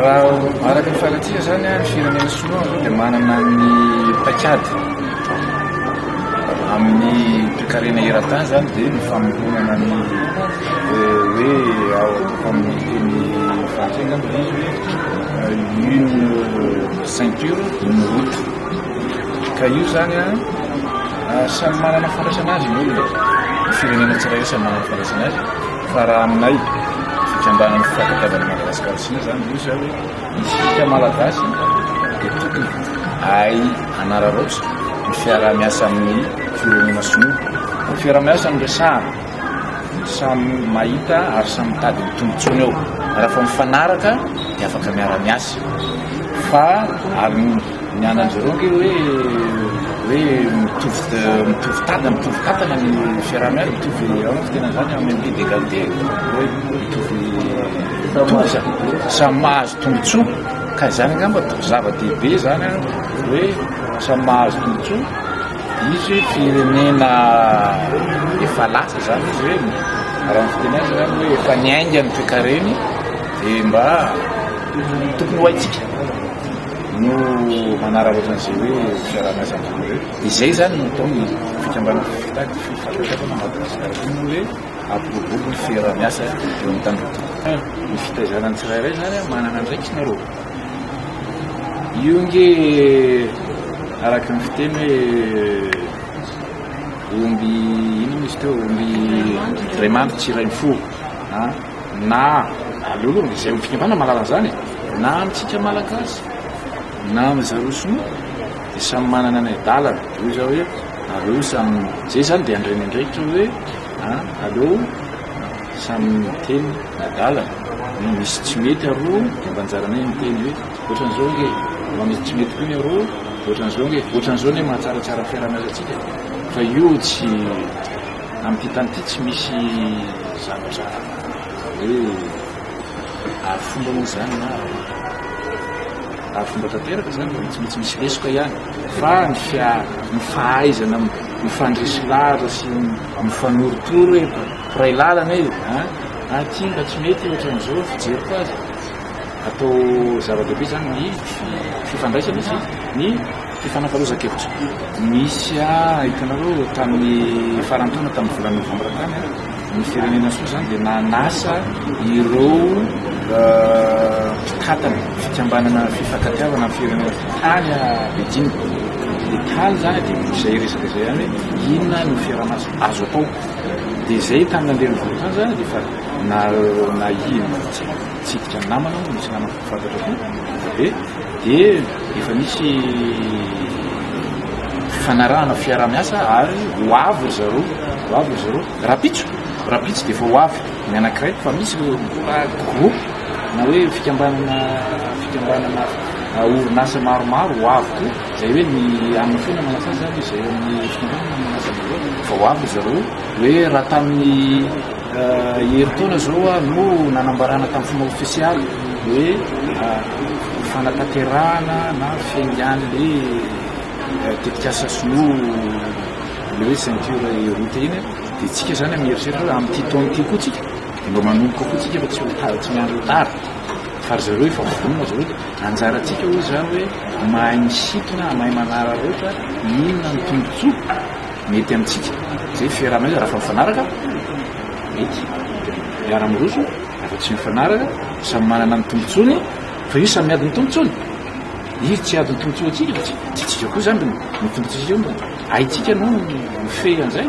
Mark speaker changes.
Speaker 1: Raha araka ny fahitantsika izany, ny firenena sinoa aloha dia manana ny paikady amin'ny toekarena eran-tany izany dia ny famoronana ny hoe ao amin'ny teny frantsay angamba dia izy hoe une ceinture une route ka io izany a samy manana fandraisana azy ny olona ny firenena tsirairay samy manana fandraisana azy Fa raha aminay fikambanan'ny fifankatiavan'i Madagasikara Sina zany io zay hoe isika Malagasy dia tokony ahay hanararaotra ny fiarahamiasa amin'ny firenena sinoa. Ny fiarahamiasa no resahana, samy mahita ary samy mitady ny tombontsoany ao. Raha fa mifanaraka dia afaka miara-miasa fa ary Ny ananjy roa kely hoe hoe mitovy mitovy tady mitovy katana ny fiarahana azy mitovy ao tena zany amin'ny pied d'égalité hoe mitovy toza samy mahazo tombontsoa ka izany angamba zava-dehibe zany hoe samy mahazo tombontsoa izy hoe firenena efa lasa zany izy hoe raha ny fiteny azy zany hoe efa niainga ny toekareny dia mba tokony ho haintsika no manararaotra an'izay hoe fiaraha-miasa ambony ireo. Izay izany no ataon'ny fikambanana fifitaky ny fifankatiavana Madagasikara koa moa hoe ampiroborobo ny fiaraha-miasa eo amin'ny tanindrazana. Ny fitaizana ny tsirairay izany an, manana andraikiny arô. Io nge araka ny fiteny hoe omby inona izy teo, omby iray mandry tsy iray mifoha. Na, aleo aloha izay olon'ny fikambanana mahalala an'izany e! na amintsika Malagasy, na amin'ry zareo Sinoa dia samy manana ny adalany, hoy izaho hoe aleo samy, izay izany dia handre ny andraikitra hoe an, aleo samy miteny ny adalany, na misy tsy mety aroa dia mba anjaranay ny miteny hoe ohatran'izao ange e! na misy tsy mety koa ny aroa ohatran'izao ange e! ohatran'izao anie mahatsaratsara fiaraha-miasantsika fa io tsy. Amin'ity tany ity tsy misy zavatra hoe aro fomba moa izany na aro fomba tanteraka izany, tsy maintsy misy lesoka ihany fa ny fia ny fahaizana mifandresy lahatra sy mifanorotoro hoe mpiray lalana e a aty mba tsy mety ohatran'izao ny fijeriko azy atao zava-dehibe izany ny fifandraisana sy ny Fifanakalozan-kevitra nisy ahy, hitanareo, tamin'ny faran'ny taona, tamin'ny volana novambra tany, ny Firenena-soa izany dia nanasa ireo mpitantana fikambanana fifankatiavana amin'ny firenena tany Beijing. Dia tany izany dia izay resaka izay ihany hoe inona no fiaraha-maso azo atao. Dia izay tamin'ny andiany voalohany izany dia efa na na i- Nitsidika ny namana aho, nisy namako mpifantatra koa avy eo dia efa nisy fifanarahana fiaraha-miasa ary ho avy ry zareo, ho avy ry zareo, rahampitso, rahampitso dia efa ho avy ny anankiray fa misy ireo mbola groupe na hoe fikambanana, fikambanana orinasa maromaro ho avy koa, izay hoe ny amin'ny foana manasa izany izay amin'ny fikambanana manasa voalohany fa ho avy ry zareo hoe raha tamin'ny Herintaona izao ary no nanambarana tamin'ny fomba ofisialy hoe fanatanterahana na fiaingan'ilay tetikasa sinoa ilay hoe ceinture route iny dia tsika izany mieritreritra hoe amin'ity taona ity koa tsika dia mba manomboka koa tsika fa tsy ho tara tsy miandry ho tara fa ry zareo efa vonona ry zareo dia anjarantsika hoy izy izany hoe mahay misintona mahay manararaotra inona ny tombontsoa Mety amintsika izay fiarahana izy raha fa mifanaraka, mety miara miroso raha fa tsy mifanaraka, samy manana ny tombotsoany fa io samy adin'ny tombotsoany, io tsy adin'ny tombotsoa antsika fa tsy tsy tsika koa izany ny tombotsoantsika, haintsika no mifehy an'izay.